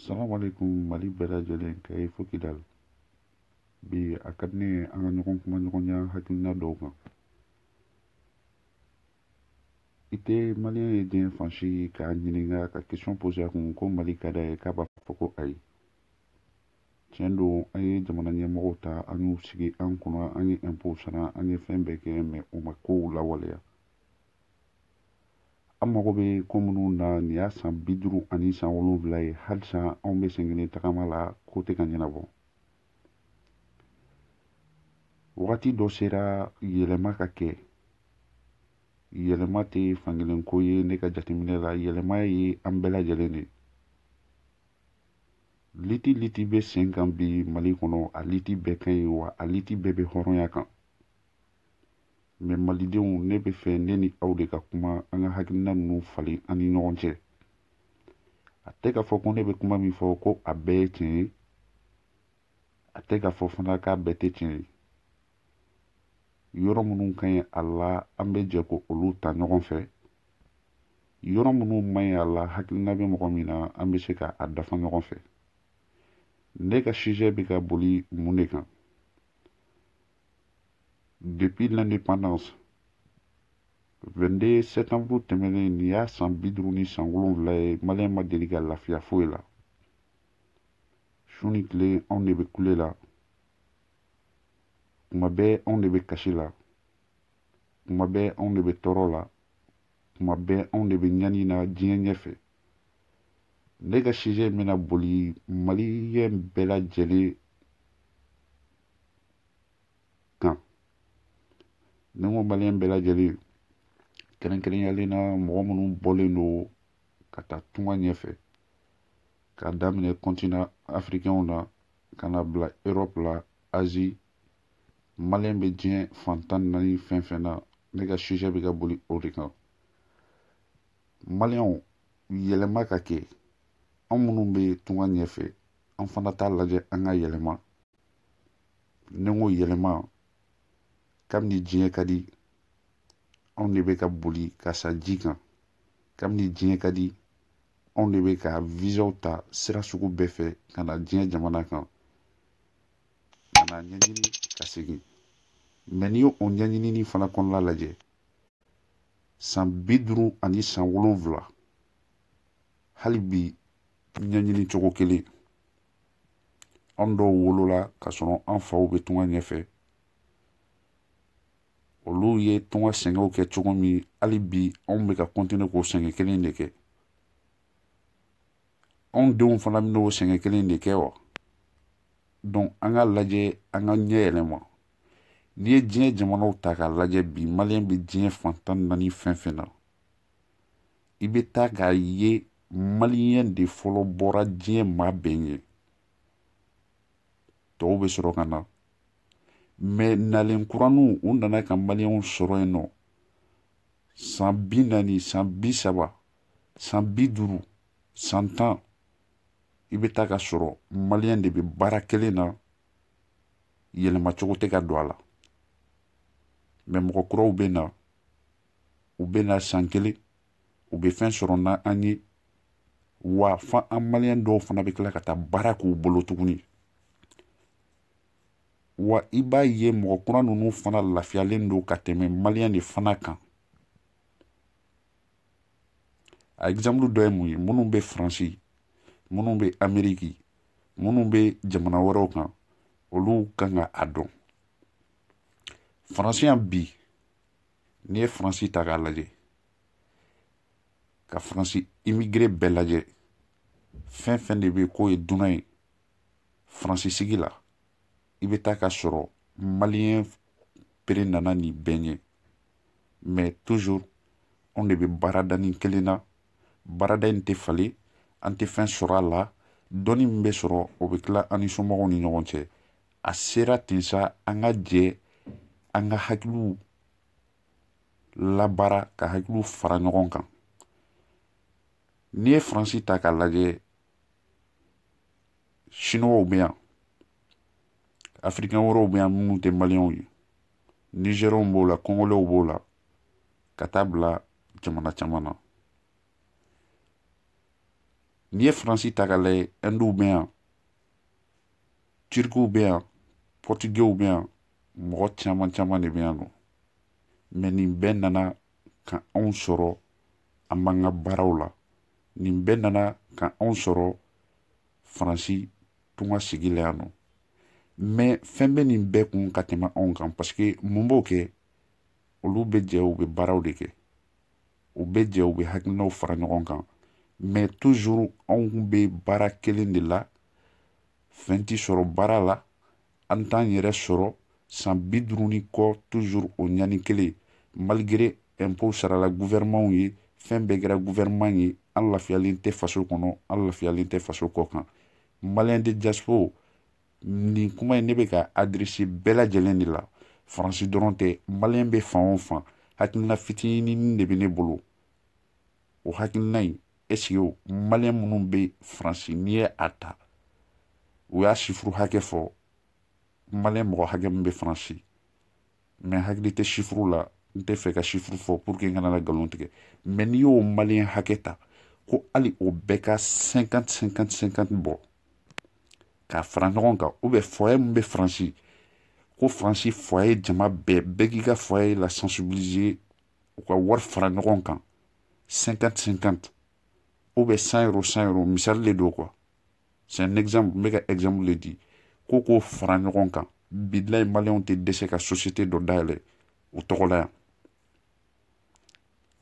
salaamaaleykum mali bɛɛ lajɛlen kayi fo kidal bi a ka di ne ye an ka ɲɔgɔn kuma ɲɔgɔnya hakilina dɔw kan i tɛ maliyɛn ye diɲɛ fan si k'a ɲininka ka kɛsiyɔn pose a kun ko mali ka d'a ye k'a b'a fɔ ko ayi tiɲɛ don an ye jamana ɲɛmɔgɔw ta an y'u sigi an kunna an ye ɛnpo sara an ye fɛn bɛɛ kɛ mɛ u ma kow lawaleya an mago bɛ ko minnu na nin y'a san bi duuru ani san wolonwula ye halisa anw bɛ senkelen tagama la ko tɛ ka ɲɛnabɔ wagati dɔ sera yɛlɛma ka kɛ yɛlɛma tɛ fankelen ko ye ne ka jateminɛ la yɛlɛma ye an bɛɛ lajɛlen de ye liti liti bɛ sen kan bi mali kɔnɔ a liti bɛɛ ka ɲi wa a liti bɛɛ bɛ hɔrɔnya kan mɛ malidenw ne b'a fɛ ne ni aw de ka kuma an ka hakilina ninnu falen an ni ɲɔgɔn cɛ a tɛ k'a fɔ ko ne bɛ kuma min fɔ ko a bɛɛ ye tiɲɛ ye a tɛ k'a fɔ fana k'a bɛɛ tɛ tiɲɛ ye yɔrɔ minnu ka ɲi a la an bɛ jɛ k'olu ta ɲɔgɔn fɛ yɔrɔ minnu man ɲi a la hakilina bɛ mɔgɔ min na an bɛ se ka a dafa ɲɔgɔn fɛ ne ka sijɛ bɛ ka boli mun de kan depuis l'indépendance 22 septembre tɛmɛnen nin y'a san bi duuru ni san wolonwula ye maliyɛn ma deli ka lafiya foyi la su ni tile anw de bɛ kule la kuma bɛɛ anw de bɛ kasi la kuma bɛɛ anw de bɛ tɔɔrɔ la kuma bɛɛ anw de bɛ ɲani na diɲɛ ɲɛfɛ ne ka sijɛ in bɛna boli maliyɛn bɛɛ lajɛlen kan ni n ko maliyɛn bɛɛ lajɛlen kɛrɛnkɛrɛnyalen na mɔgɔ minnu bɔlen don ka taa tunga ɲɛfɛ k'a daminɛ kɔntinan afirikɛnw na ka na bila erɔpu la azi maliyɛn bɛ diɲɛ fan tan ni naani fɛn fɛn na ne ka sijɛ bɛ ka boli o de kan maliyɛnw yɛlɛma ka kɛ an minnu bɛ tunga ɲɛfɛ an fana t'a lajɛ an ka yɛlɛma ni n ko yɛlɛma kabini diɲɛ ka di anw de bɛ ka boli ka sa ji kan kabini diɲɛ ka di anw de bɛ ka vizaw ta sira sugu bɛɛ fɛ ka na diɲɛ jamana kan ka na ɲɛɲini ka segin mɛ n'i y'o ɲɛɲini nin fana kɔnɔna lajɛ san bi duuru ani san wolonwula hali bi ɲɛɲini cogo kelen an dɔw wolola ka sɔrɔ an faw bɛ tunga ɲɛfɛ olu ye tunga sɛgɛnw kɛ cogo min hali bi anw bɛ ka continuer k'o sɛgɛn kelen de kɛ anw denw fana bɛ n'o sɛgɛn kelen de kɛ wa donc an ka lajɛ an ka ɲɛ yɛlɛma n'i ye diɲɛ jamanaw ta k'a lajɛ bi maliyɛn bɛ diɲɛ fan tan ni naani fɛn fɛn na i bɛ taa k'a ye maliyɛn de fɔlɔ bɔra diɲɛ maa bɛɛ ɲɛ tɔw bɛ sɔrɔ ka na mɛ nalen kuraniw u nana ka maliyɛnw sɔrɔ yen nɔ san bi naani san bi saba san bi duuru san tan i bɛ taa ka sɔrɔ maliyɛn de bɛ baara kelen na yɛlɛma cogo tɛ ka don a la mɛ mɔgɔ kuraw bɛ na u bɛ na san kelen u bɛ fɛn sɔrɔ n'an ye wa fa an maliyɛn dɔw fana bɛ tila ka taa baara k'u bolo tuguni wa i b'a ye mɔgɔ kura ninnu fana lafiyalen don ka tɛmɛ maliyɛn de fana kan a exemple dɔ ye mun ye minnu bɛ faransi minnu bɛ ameriki minnu bɛ jamana wɛrɛw kan olu kan ka a dɔn faransi yan bi n'i ye faransi ta k'a lajɛ ka faransi imigire bɛɛ lajɛ fɛn fɛn de bɛ k'o ye dunan ye faransi sigi la i bɛ taa ka sɔrɔ maliyɛn pere nana nin bɛɛ ɲɛ mais toujours an de bɛ baarada nin kelen na baarada in tɛ falen an tɛ fɛn sɔrɔ a la dɔɔnin min bɛ sɔrɔ o bɛ tila an ni somɔgɔw ni ɲɔgɔn cɛ a sera ten sa an ka jɛ an ka hakiliw labaara ka hakiliw fara ɲɔgɔn kan n'i ye faransi ta k'a lajɛ siniwaw bɛ yan afirikɛn wɛrɛw bɛ yan minnu tɛ maliyɛnw ye nizɛriyɛnw b'o la kongolɛw b'o la ka taa bila jamana caman na n'i ye faransi ta k'a lajɛ ɛnduw bɛ yan tirikiw bɛ yan pɔritigɛw bɛ yan mɔgɔ caman caman de bɛ yan nɔ mɛ nin bɛɛ nana ka anw sɔrɔ an b'an ka baaraw la nin bɛɛ nana ka anw sɔrɔ faransi tunga sigi la yan nɔ mɛ fɛn bɛ nin bɛɛ kun ka tɛmɛ anw kan paseke mun b'o kɛ olu bɛ jɛ u bɛ baaraw de kɛ u bɛ jɛ u bɛ hakilinaw fara ɲɔgɔn kan mɛ tuzuru anw bɛ baara kelen de la fɛn tɛ sɔrɔ baara la an t'an yɛrɛ sɔrɔ san bi duuru ni kɔ tuzuru o ɲani kelen malgre ɛnpo sarala guvɛrɛmanw ye fɛn bɛɛ kɛra guvɛrɛman ye an lafiyalen tɛ faso kɔnɔ an lafiyalen tɛ faso kɔ kan maliyɛn de jaspo nin kuma in ne bɛ k'a adɛrɛse bɛɛ lajɛlen de la faransi dɔrɔn tɛ maliyɛn bɛ fan o fan hakilina fitinin de bɛ ne bolo o hakilina in esike maliyɛn minnu bɛ faransi n'i ye a ta u y'a sifuru hakɛ fɔ maliyɛn mɔgɔ hakɛ min bɛ faransi mɛ hakili tɛ sifuru la n tɛ fɛ ka sifuru fɔ pour que n kana na nkalon tigɛ mɛ n'i y'o maliyɛn hakɛ ta ko hali o bɛɛ ka 50 50 50 bɔ k'a fara ɲɔgɔn kan ou bien foyer min bɛ faransi ko faransi foyer jama bɛɛ bɛɛ k'i ka foyer la sensibiliser u ka wari fara ɲɔgɔn kan 50 50 ou bien 100 euro 100 euro misali de don quoi c'est un exemple n bɛ ka exemple de di ko k'o fara ɲɔgɔn kan bilayi maliyɛnw tɛ dɛsɛ ka société dɔ dayɛlɛ u tɔgɔ la yan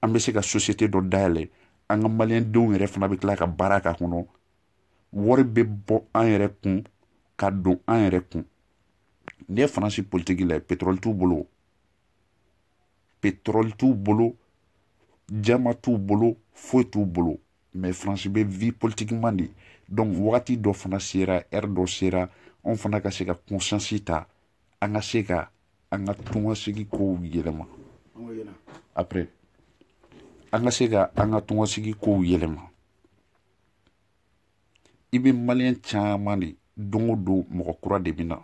an bɛ se ka société dɔ dayɛlɛ an ka maliyɛndenw yɛrɛ fana bɛ tila ka baara k'a kɔnɔ wari bɛ bɔ an yɛrɛ kun ka don an yɛrɛ kun n'i ye faransi politiki lajɛ pétrole t'u bolo pétrole t'u bolo diamant t'u bolo foyi t'u bolo mais france bɛ vie politiquement de donc wagati dɔ fana sera heure dɔ sera anw fana ka se ka conscience ta an ka se ka an ka tungasigi kow yɛlɛma après an ka se ka an ka tungasigi kow yɛlɛma i bɛ maliyɛn caman de don o don mɔgɔ kura de bɛ na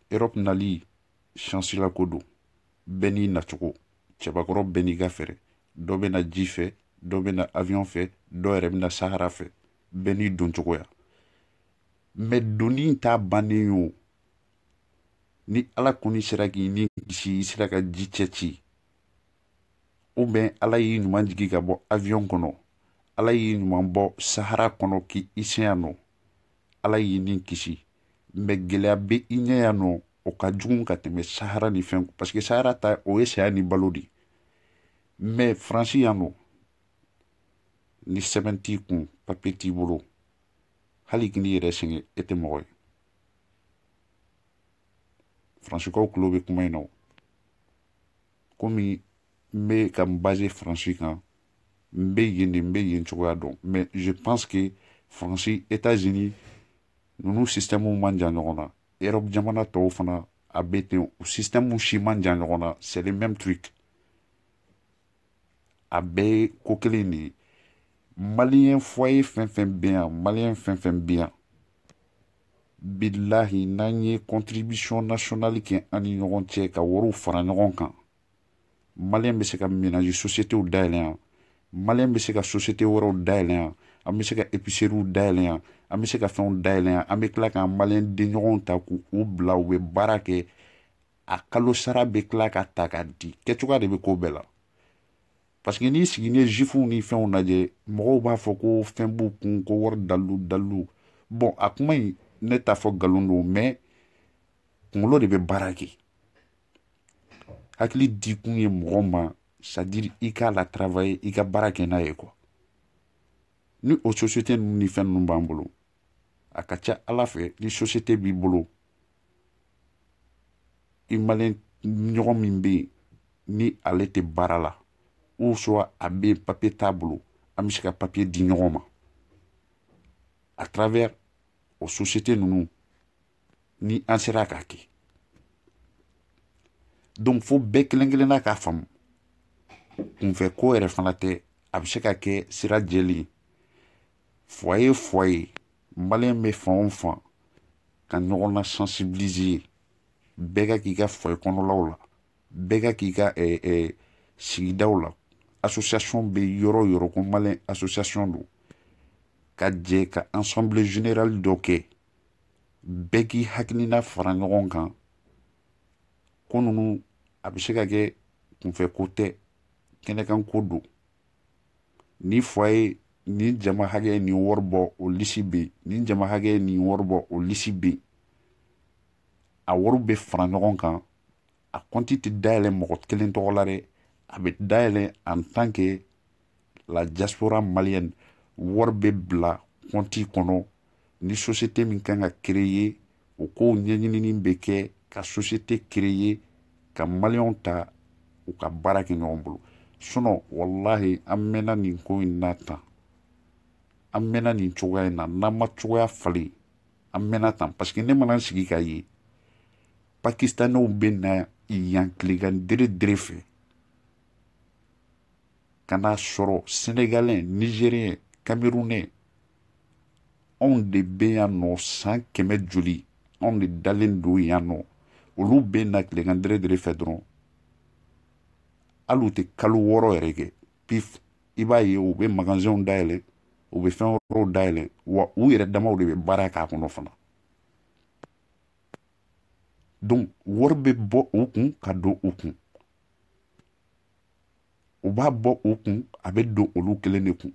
europe nali chance la ko don bɛɛ n'i nacogo cɛbakɔrɔ bɛɛ n'i ka fɛɛrɛ dɔ bɛ na ji fɛ dɔ bɛ na avion fɛ dɔ yɛrɛ bɛ na sahara fɛ bɛɛ n'i don cogoya mɛ donni in t'a bannen ye o ni ala kɔni sera k'i ni kisi i sera ka ji cɛ ci ou bien ala y'i ɲuman jigi ka bɔ avion kɔnɔ ala y'i ɲuman bɔ sahara kɔnɔ k'i se yan nɔ ala y'i ni kisi mɛ gɛlɛya bɛ i ɲɛ yan nɔ o ka jugu ka tɛmɛ sahara ni fɛn parce que sahara ta o ye saya ni balo de mɛ faransi yan nɔ ni sɛbɛn t'i kun papiye t'i bolo hali k'i yɛrɛ sɛgɛn e tɛ mɔgɔ ye faransikaw tulo bɛ kuma in na o komi n bɛ ka n base faransi kan n bɛ yen de n bɛ yen cogoya dɔn mɛ je pense que faransi états unis ninnu sisitɛmuw man jan ɲɔgɔn na erɔp jamana tɔw fana a bɛ ten u sisitɛmu si man jan ɲɔgɔn na c'est le même truc a bɛɛ ye ko kelen de ye maliyɛn foye fɛn fɛn bɛ yan maliyɛn fɛn fɛn bɛ yan bilahi n'an ye contribution nationale kɛ an ni ɲɔgɔn cɛ ka wariw fara ɲɔgɔn kan maliyɛn bɛ se ka ménage sosiyetew dayɛlɛ yan maliyɛn bɛ se ka sosiyete wɛrɛw dayɛlɛ yan an bɛ se ka episeriw dayɛlɛ yan an bɛ se ka fɛnw dayɛlɛ yan an bɛ tila k'an maliyɛn denɲɔgɔnw ta k'u bila u bɛ baara kɛ a kalo sara bɛ tila ka ta ka di kɛcogoya de bɛ ko bɛɛ la parce que n'i sigi ni zifuw ni fɛnw lajɛ mɔgɔw b'a fɔ ko fɛn b'u kun ko wari dalilu dalilu bon a kuma in ne t'a fɔ nkalon don mais kunkolo de bɛ baara kɛ hakili di kun ye mɔgɔ ma c'est-à-dire i k'a la travailler i ka baara kɛ n'a ye quoi ni o sosiyete ninnu ni fɛn ninnu b'an bolo a ka ca ala fɛ ni sosiyete b'i bolo i maliyɛn ɲɔgɔn min bɛ yen ni ale tɛ baara la ou soit a bɛ yen papiye t'a bolo an bɛ se ka papiye di ɲɔgɔn ma à travers o sosiyete ninnu ni an sera k'a kɛ donc fo bɛɛ kelen kelenna k'a faamu kunfɛ ko yɛrɛ fana tɛ a bɛ se ka kɛ sira jɛlen ye foye foye maliyɛn bɛ fan o fan ka ɲɔgɔn na sensibiliser bɛɛ k'a k'i ka foye kɔnɔlaw la bɛɛ k'a k'i ka eh, eh, sigidaw la association bɛ yɔrɔ o yɔrɔ ko maliyɛn association don ka jɛ ka assemblée générale dɔ kɛ bɛɛ k'i hakilina fara ɲɔgɔn kan ko ninnu a bɛ se ka kɛ kunfɛ ko tɛ kɛnɛkan ko don nin foye nin jama hakɛ ye nin wari bɔ o lisi bɛ yen nin jama hakɛ ye nin wari bɔ o lisi bɛ yen a wari bɛ fara ɲɔgɔn kan a kɔnti tɛ dayɛlɛ mɔgɔ kelen tɔgɔ la dɛ a bɛ dayɛlɛ en tant que la diaspora malienne wari bɛ bila kɔnti kɔnɔ ni sosiyete min kan ka kereye o kow ɲɛɲinini bɛ kɛ ka sosiyete kereye ka maliyɛnw ta u ka baara kɛ ɲɔgɔn bolo sinon walahi an mɛnna nin ko in na tan an mɛnna nin cogoya in na n'an ma cogoya falen an mɛnna tan parce que ne mana n sigi k'a ye pakistanɛw bɛ na yan tilegan dere dere fɛ ka n'a sɔrɔ senegalɛ nizeriyɛn kamerunɛ anw de bɛ yan nɔ san kɛmɛ joli anw de dalen don yan nɔ olu bɛ na tilegan deredere fɛ dɔrɔn hali u tɛ kalo wɔɔrɔ yɛrɛ kɛ pif i b'a ye u bɛ magasɛnw dayɛlɛ u bɛ fɛn wɛrɛw dayɛlɛ wa u yɛrɛ damaw de bɛ baara k'a kɔnɔ fana donc wari bɛ bɔ u kun ka don u kun u b'a bɔ u kun a bɛ don olu kelen de kun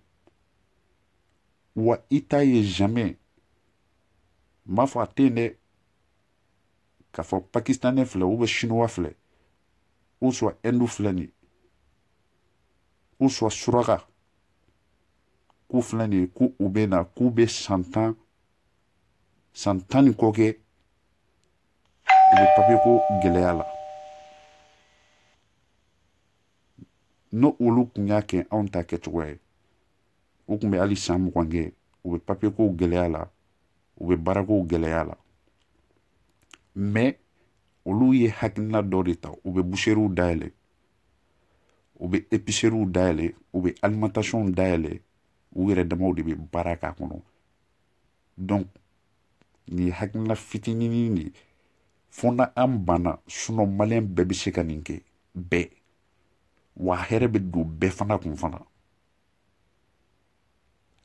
wa i t'a ye jamais n m'a fɔ a tɛ yen dɛ k'a fɔ pakistanɛ filɛ ou bien chinois filɛ ou soit hindu filɛ nin ye ou soit suraka k'u filɛ nin ye ko u bɛ na k'u bɛ san tan san tan ni kɔ kɛ u bɛ papiye ko gɛlɛya la n'o olu kun y'a kɛ anw ta kɛcogoya ye u kun bɛ hali san mugan kɛ u bɛ papiye kow gɛlɛya la u bɛ baarakow gɛlɛya la mais olu ye hakilina dɔ de ta u bɛ buseriw dayɛlɛ u bɛ episeriw dayɛlɛ u bɛ alimentasiyɔnw dayɛlɛ u yɛrɛ damaw de bɛ baara k'a kɔnɔ donc nin ye hakilina fitinin de ye fo n'an banna sinon maliyɛn bɛɛ bɛ se ka nin kɛ bɛɛ wa hɛrɛ bɛ don bɛɛ fana kun fana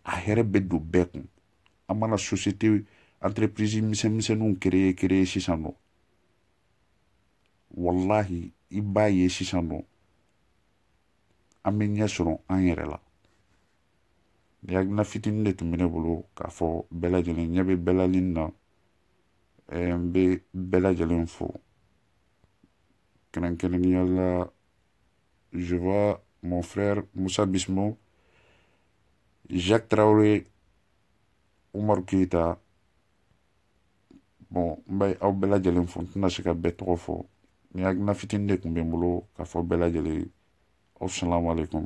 a hɛrɛ bɛ don bɛɛ kun an mana société entreprise misɛnmisɛnninw créer créer sisan nɔ walahi i b'a ye sisan nɔ an bɛ ɲɛ sɔrɔ an yɛrɛ la nin hakilina fitinin de tun bɛ ne bolo k'a fɔ bɛɛ lajɛlen ɲɛ bɛ bɛɛ lajɛlen na n bɛ bɛɛ lajɛlen fo kɛrɛnkɛrɛnnenya la Je vois mon frère Moussa Bismo, Jacques Traoré, Oumar Keita. Bon, n bɛ aw bɛɛ lajɛlen fo n tɛna se ka bɛɛ tɔgɔ fɔ nin hakilina fitinin de tun bɛ n bolo k'a fɔ bɛɛ lajɛlen aw salamu aleykum